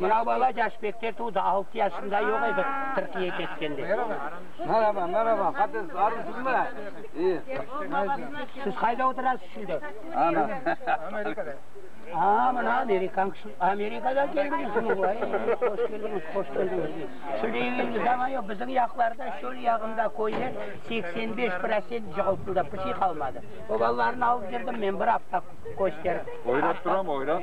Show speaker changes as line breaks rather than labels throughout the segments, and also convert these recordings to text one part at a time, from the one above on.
Mına bala yaş bekte tuvdı, altı yaşında yoq edi Tırkiye ketkende. Meraba, meraba, qates arısızmı? İyi. Siz qayda oturasız şimdi? Ana. Amerikada. Aa, mına Amerikan kişi, Amerikadan keldiñizmi? Vay, hoş keldiñiz, hoş keldiñiz. Şimdi eviñizde zaman yoq, bizim yaqlarda şöl yağında köyler seksen beş prosent cığıltıldı, pişi qalmadı. O balalarnı alıp kirdim men bir afta kösterip. Oyrap turam, oyrap.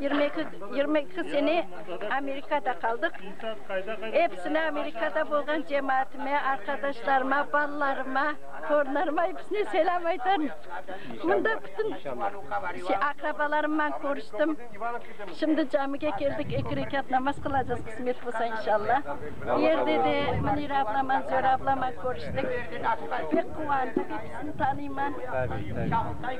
Yirmi eki, yirmi eki sene Amerikada qaldıq. Episine Amerikada bolğan cemaatime, arqadaşlarıma, balalarıma, torunlarıma episine selâm aytarım. Mında bütün şey, aqrabalarımman körüştim. Şimdi camige keldik, eki rekat namaz qılacağız, qısmet bolsa, inşalla. Bu yerde de Münire ablaman, Zöre ablaman körüştik. Pek quvandıq, episini tanıyman.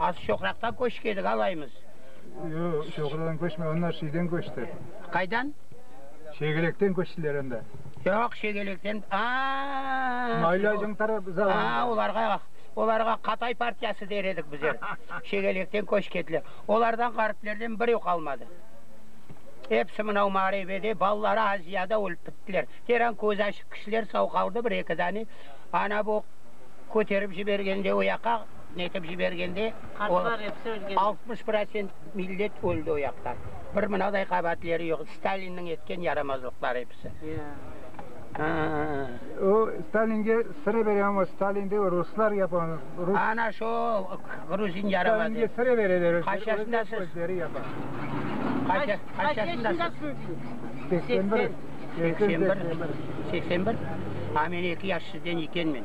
Az çoqraqta köşk edik, alaymız. Yoq, çoqraqtan köşmedi, onlar şeyden köşti. Qaydan? Şegelekten köştiler anda. Yoq, Şegelekten, aa! Maylacıñ tarafı zamanında. Aa, olarğa, olarğa Qatay partiyası der edik bizer. Şegelekten köşk etdiler. Olardan ğariplerden biri qalmadı. Episi mınau mağarebede, balaları Aziyada ölip bittiler. Teran közü açıq kişiler, sau qaldı bir-eki dane. Ana bu köterip jibergende o yaqqa. Netip jibergende, altmış prosent millet öldi o yaqta. Bir mınaday qabaatleri yoq. Stalinniñ etken yaramazlıqları episi. O Stalinge sıra berem ama Stalin de ruslar yapan. Ana şo gruzin yaramazı. Stalinge sıra bereler. Qaçasındasız? Özleri yapa. Qaç yaşındasız? Seksen bir. Seksen bir. Seksen bir. A men eki yaş sizden ekenmen.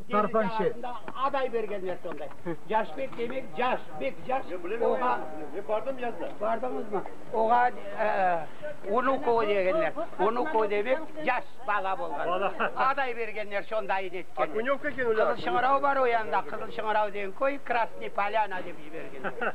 Tarfan şe. Aday bergenler sonday. Yaşbek demek yaş, bek yaş. Oğa. Men bardım yazına. Bardınız mı? Oğa Unukovo degenler. Unukovo demek yaş bala bolğan. Bala. Aday bergenler sonday edi etken. Okünevka eken öyle. Kızıl Şıñırav bar o yanda. Kızıl Şıñırav degen köy, Krasnıy Polyana dep jibergenler.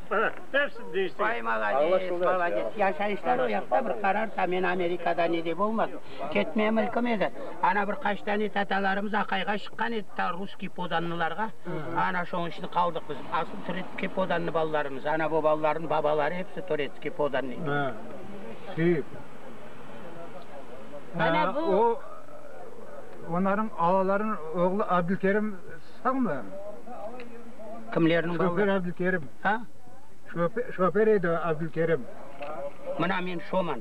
Hepsini deñiştirgen. Ay, malades, malades. Yaşayışları o yaqta bir qarar. Ta men Amerikada ne de bolmadım. Ketmeye mülküm edi. Ana bir qaç tane tatalarımız aqayğa şıqqan edi, ta russkiy podanlılarğa. Ana şoñun içinde qaldıq biz. Asıl turetskiy podanlı balalarımız. Ana bu balalarnıñ babaları hepsi turetskiy podanlı edi. Ha, sü. Ana bu. O, onarnıñ alalarınıñ oğlu Abdülkerim sağmı? Kimlerniñ balaları? Şofer Abdülkerim. Ha? Şofer edi Abdülkerim. Mına men şoman.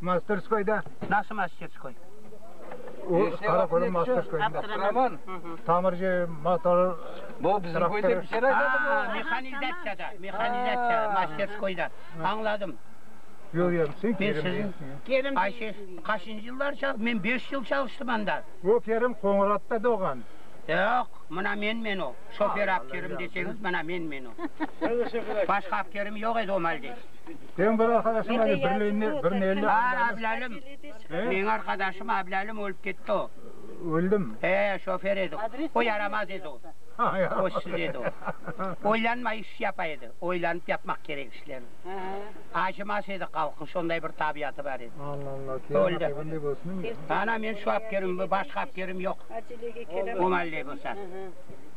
Masterskoyda. Nasıl masterskoy? O, Qarakorum masterskoyında. Avtoman? Tamirci, motor, traktor. Aa, mehanizatsiyada, mehanizatsiya masterskoyda. Añladım. Köremsiñ, Kerim. Kerim. Ayşe, qaçıncı yıllar çal-? Men beş yıl çalıştım anda. O, Kerim Qoñuratta doğğan. Yoq, mına menmen o. Şofer apterim deseñiz, mına menmen o. Başqa apterim yoq edi o maldes. Señ bir arqadaşıñ var edi, bir lenli, bir nelli. A, Ablâlim. Meñ arqadaşım Ablâlim ölüp ketti o. Öldi mi? He, şofer edi o. O yaramaz edi o. Köşsiz edi o. Oylanmay iş yapa edi. Oylanıp yapmaq kerek işlerni. Acımas edi halqqa, şonday bir tabiatı bar edi. Alla, Alla, kâğıt bunday bolsun deme. Ana, men şu apkerim, başqa apkerim yoq. O malde bolsa.